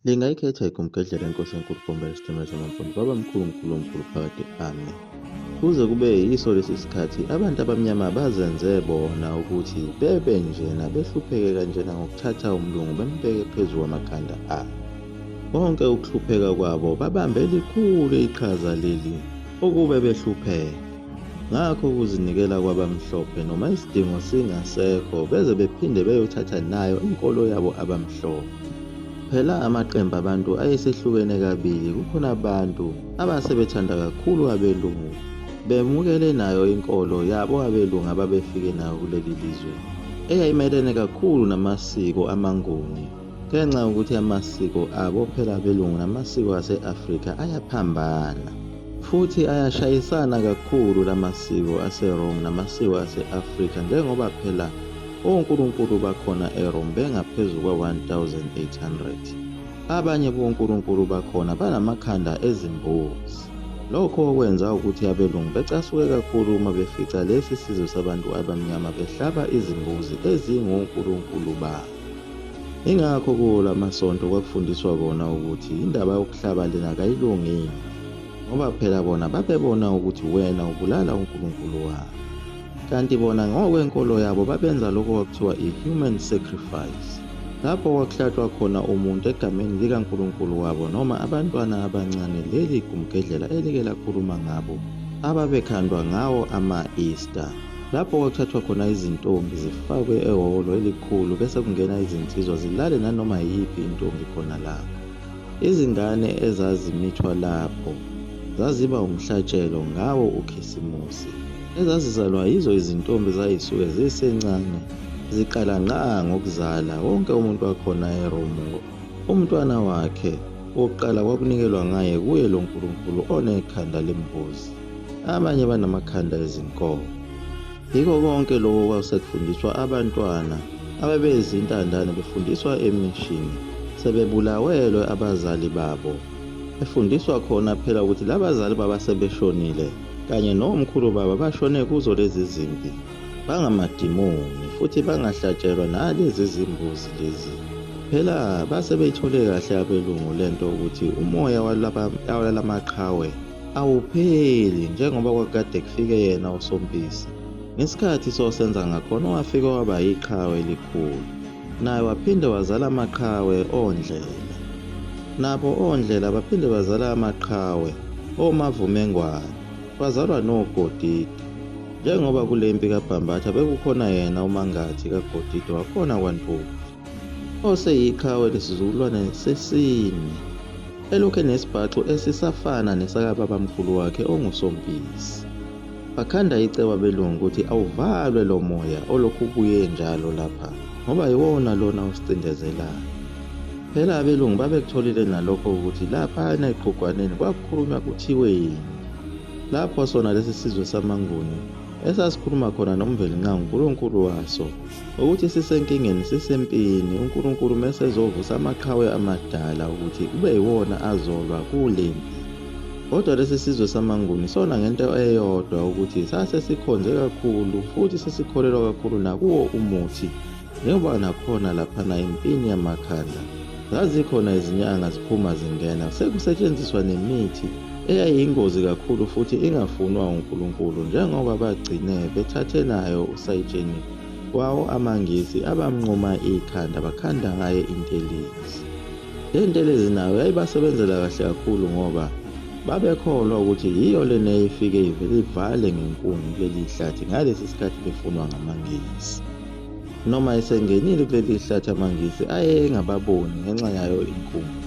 Lingayikhetha igumgedlela inkosi enkulu Bhomba lesithemela samampondo baba mkhulu mkhulu omkhulu phakade ame. Kuze kube yiso lesi sikhathi abantu abamnyama bazenze bona ukuthi bebe njena behlupheke kanjena ngokuthatha umlungu bembeke phezu kwamakhanda abo. Konke ukuhlupheka kwabo babambe likhulu iqhaza leli ukube behlupheka. Ngakho ukuzinikela kwabamhlophe noma isidingo singasekho beze bephinde beyothatha nayo inkolo yabo abamhlophe. Phela amaqembu abantu ayesehlukene kabili kukhona abantu abasebethanda kakhulu abelungu bemukele nayo inkolo yabo abelungu ababefike nayo kuleli lizwe eyayimelene kakhulu namasiko amanguni. Ngenxa yokuthi amasiko abo phela abelungu namasiko ase-Afrika ayaphambana futhi ayashayisana kakhulu la masiko aseRome namasiko ase-Afrika njengoba phela onkulunkulu bakhona eRome bengaphezu kwa-1800. Abanye bonkulunkulu bakhona banamakhanda ezimbuzi. Lokho okwenza ukuthi abelungu becasuke kakhulu uma befica lesi sizwe sabantu abamnyama behlaba izimbuzi ezingonkulunkulu babo. Ingakho kula masonto kwakufundiswa kona ukuthi indaba yokuhlaba lena kayilungile ngoba phela bona babebona ukuthi wena ubulala uNkulunkulu wabo kanti bona ngokwenkolo yabo babenza lokho kwakuthiwa i-human sacrifice lapho kwakuhlatshwa khona umuntu egameni likaNkulunkulu wabo noma abantwana abancane leli gumgedlela elike lakhuluma ngabo ababekhandwa ngawo ama-Easter lapho kwakuthathwa khona izintombi zifakwe ehholo elikhulu bese kungena izinsizwa zilale nanoma yiphi intombi khona lapho izingane ezazimithwa lapho zaziba umhlatshelo ngawo ukhisimusi ezazizalwa yizo izintombi zayisuke zisencane ziqala ngqa ngokuzala wonke umuntu wakhona eromu umntwana wakhe wokuqala kwakunikelwa ngaye kuye lo nkulunkulu onekhanda lembuzi abanye banamakhanda ezinkomo yiko konke lokho kwakusekufundiswa abantwana abebezintandane befundiswa emishini sebebulawelwe abazali babo efundiswa khona phela ukuthi labazali baba sebeshonile kanye nomkhulu baba bashone kuzo lezi zimpi bangamadimoni futhi bangahlatshelwa nalezi zimbuzi lezi phela base beyithole kahle abelungu lento ukuthi umoya walaba maqhawe awupheli njengoba kwakukade kufike yena usompisi ngesikhathi sosenza ngakhona owafike waba yiqhawe elikhulu naye waphinde wazala amaqhawe ondlela nabo ondlela baphinde bazala amaqhawe omavumengwane bazalwa nogodidi njengoba kule mpi kabhambatha bekukhona yena umangathi kagodidi wakhona kwantuli oseyiqhawe lesizukulwane sesine elokhu enesibhaxu esisafana nesakababamkhulu wakhe ongusompisi bakhanda icebo abelungu ukuthi awuvalwe lo moya olokhu ubuye njalo lapha ngoba yiwona lona osicindezelayo phela abelungu babekutholile nalokho ukuthi laphana eqhugwaneni kwakukhulunywa kuthiwe yini lapho sona lesi sizwe samanguni esasikhuluma khona nomvelinqangu unkulunkulu waso ukuthi sisenkingeni sisempini uNkulunkulu mese ezovusa amaqhawe amadala ukuthi kube yiwona azolwa kulempi kodwa lesi sizwe samanguni sona ngento eyodwa ukuthi sase sikhonze kakhulu futhi sesikholelwa kakhulu nakuwo umuthi njengoba nakhona laphana impini yamakhanda Zazikhona izinyanga ziphuma zingena, sekusetshenziswa nemithi eyayiyingozi kakhulu futhi ingafunwa uNkulunkulu njengoba bagcine bethathe nayo usayitsheni wawo amaNgisi abamnquma ikhanda bakhanda ngaye intelezi. Le ntelezi nayo yayibasebenzela kahle kakhulu ngoba babekholwa ukuthi yiyo lena eyifike ivele ivale ngenkuni kuleli hlathi ngalesi sikhathi befunwa ngamaNgisi. Noma esengenile kuleli hlathi amaNgisi ayengababoni ngenxa yayo inkungu.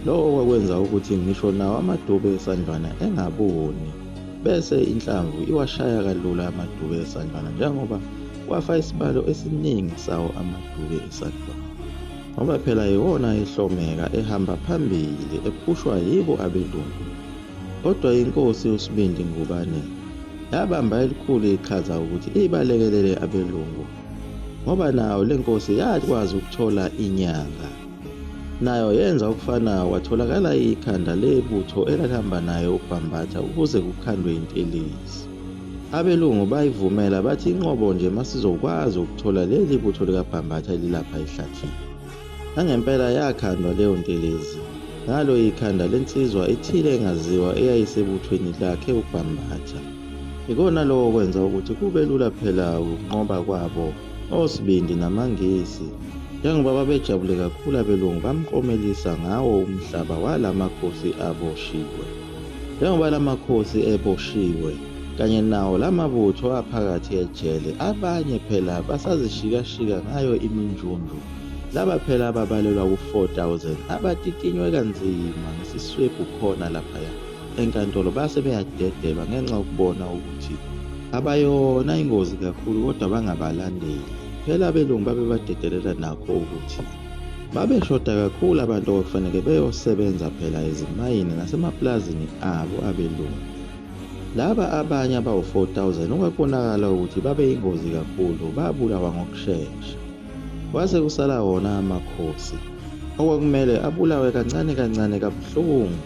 Lokho kwakwenza ukuthi ngisho nawo amadube esandlwana engaboni, bese inhlamvu iwashaya kalula amadube esandlwana njengoba kwafa isibalo esiningi sawo amadube esandlwana. Ngoba phela yiwona ehlomeka ehamba phambili ephushwa yibo abelungu. Kodwa iNkosi uSibindi Ngubane yabamba elikhulu iqhaza ukuthi ibalekelele abelungu ngoba nayo le nkosi yakwazi ukuthola inyanga. Nayo yenza okufanayo kwatholakala ikhanda lebutho elalihamba naye uBhambatha ukuze kukhandwe intelezi. Abelungu bayivumela bathi inqobo nje masizokwazi ukuthola leli butho likaBhambatha elilapha ehlathini. Nangempela yakhandwa leyo ntelezi ngalo ikhanda lensizwa ithile engaziwa eyayisebuthweni lakhe uBhambatha. Ikona lokho kwenza ukuthi kube lula phela ukunqoba kwabo osibindi namaNgisi. Njengoba babejabule kakhulu abelungu bamkomelisa ngawo umhlaba wala makhosi aboshiwe. Njengoba la makhosi eboshiwe kanye nawo la mabutho aphakathi ejele, abanye phela basazishikashika ngayo iminjunju. Laba phela ababalelwa ku-4000 abatitinywe kanzima ngesiswebhu khona laphaya enkantolo base beyadedelwa ngenxa yokubona ukuthi abayona ingozi kakhulu kodwa bangabalandeli. Phela abelungu babebadedelela nakho ukuthi babeshoda kakhulu abantu okufanele beyosebenza phela ezimayini nasemapulazini abo abelungu. Laba abanye abawu-4000 okwakubonakala ukuthi babeyingozi kakhulu babulawa ngokushesha. Kwase kusala wona amakhosi okwakumele abulawe kancane kancane kabuhlungu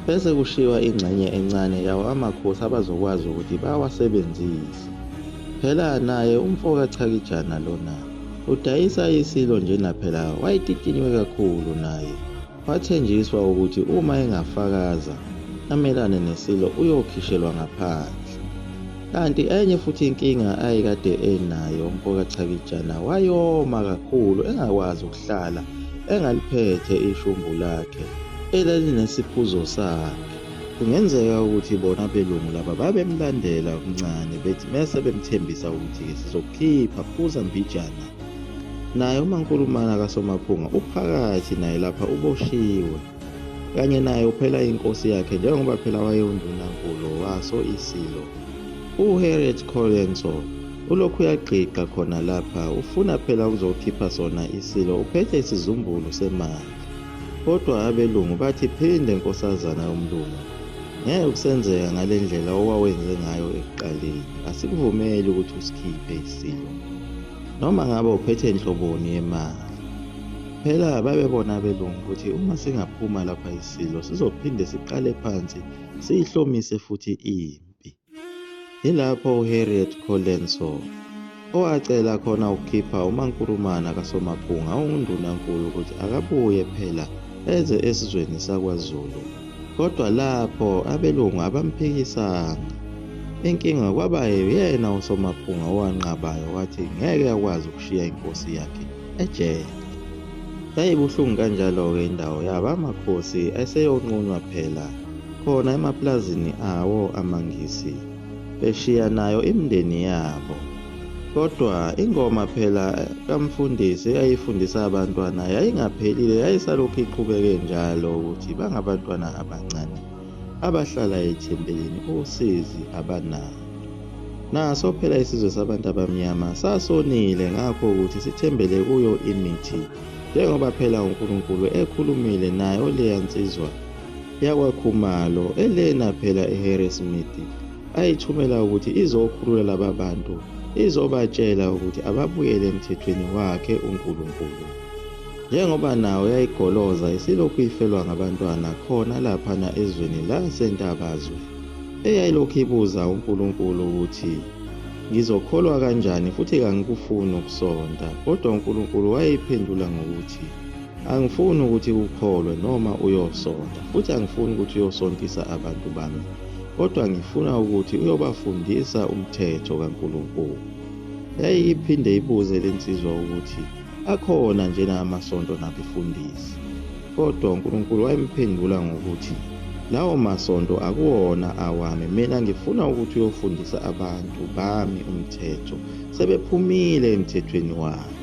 bese kushiywa ingxenye encane yawo amakhosi abazokwazi ukuthi bawasebenzise. Phela naye umfo kaChakijana lona udayisa isilo njena phela wayetitiniwe kakhulu naye. Wathenjiswa ukuthi uma engafakaza amelane neSilo uyokhishelwa ngaphandle. Kanti enye futhi inkinga ayekade enayo umfoka Chakijana wayoma kakhulu engakwazi ukuhlala engaliphethe ishumbu lakhe elalinesiphuzo sakhe. Kungenzeka ukuthi bona abelungu laba babemlandela okuncane bethi mese bemthembisa ukuthi-ke sizokukhipha phuza mbijana Naye umankulumana kaSomaphunga uphakathi naye lapha uboshiwe kanye naye uphela inkosi yakhe njengoba phela wayewundunankulu waso isilo uHarriet Colenso ulokhu uyagqigqa khona lapha ufuna phela ukuzokhipha sona isilo uphethe isizumbulu semali kodwa abelungu bathi phinde nkosazana yomlungu ngeke kusenzeka ngale ndlela owawenze ngayo ekuqaleni asikuvumeli ukuthi usikhiphe isilo noma ngabe uphethe nhloboni yemali. Phela babebona abelungu ukuthi uma singaphuma lapha iSilo sizophinde siqale phansi siyihlomise futhi impi. Yilapho uHarriet Colenson owacela khona ukukhipha uMankurumana kaSomaphunga onguNdunankulu ukuthi akabuye phela eze esizweni sakwaZulu. Kodwa lapho abelungu abamphikisanga. Inkinga kwaba yena uSomaphunga owanqabayo wathi ngeke akwazi ukushiya inkosi yakhe ejele. Yayibuhlungu kanjalo-ke indawo yabo amakhosi eseyonqunywa phela khona emaplazini awo amaNgisi. beshiya nayo imndeni yabo kodwa ingoma phela kamfundisi eyayifundisa abantwana yayingaphelile yayisalokhu iqhubeke njalo ukuthi bangabantwana abancane abahlala ethempelini usizi abanalo naso phela isizwe sabantu abamnyama sasonile ngakho ukuthi sithembele kuyo imithi njengoba phela uNkulunkulu ekhulumile nayo leya nsizwa yakwaKhumalo elena phela eHarrismith ayithumela ukuthi izokhulula laba bantu izobatshela ukuthi ababuyele emthethweni wakhe uNkulunkulu njengoba nawo yayigoloza isilokhu ifelwa ngabantwana khona laphana ezweni lasentabazwe eyayilokhu ibuza uNkulunkulu ukuthi ngizokholwa kanjani futhi kangikufuni ukusonta kodwa uNkulunkulu wayeyiphendula ngokuthi Angifuni ukuthi ukholwe noma uyosonta, futhi angifuni ukuthi uyosontisa abantu bami, kodwa ngifuna ukuthi uyobafundisa umthetho kaNkulunkulu. Yayiphinde ibuze le nsizwa ukuthi akhona njena amasonto nabefundisi. Kodwa uNkulunkulu wayemphendula ngokuthi, Lawo masonto akuwona awami, mina ngifuna ukuthi uyofundisa abantu bami umthetho, sebephumile emthethweni wami.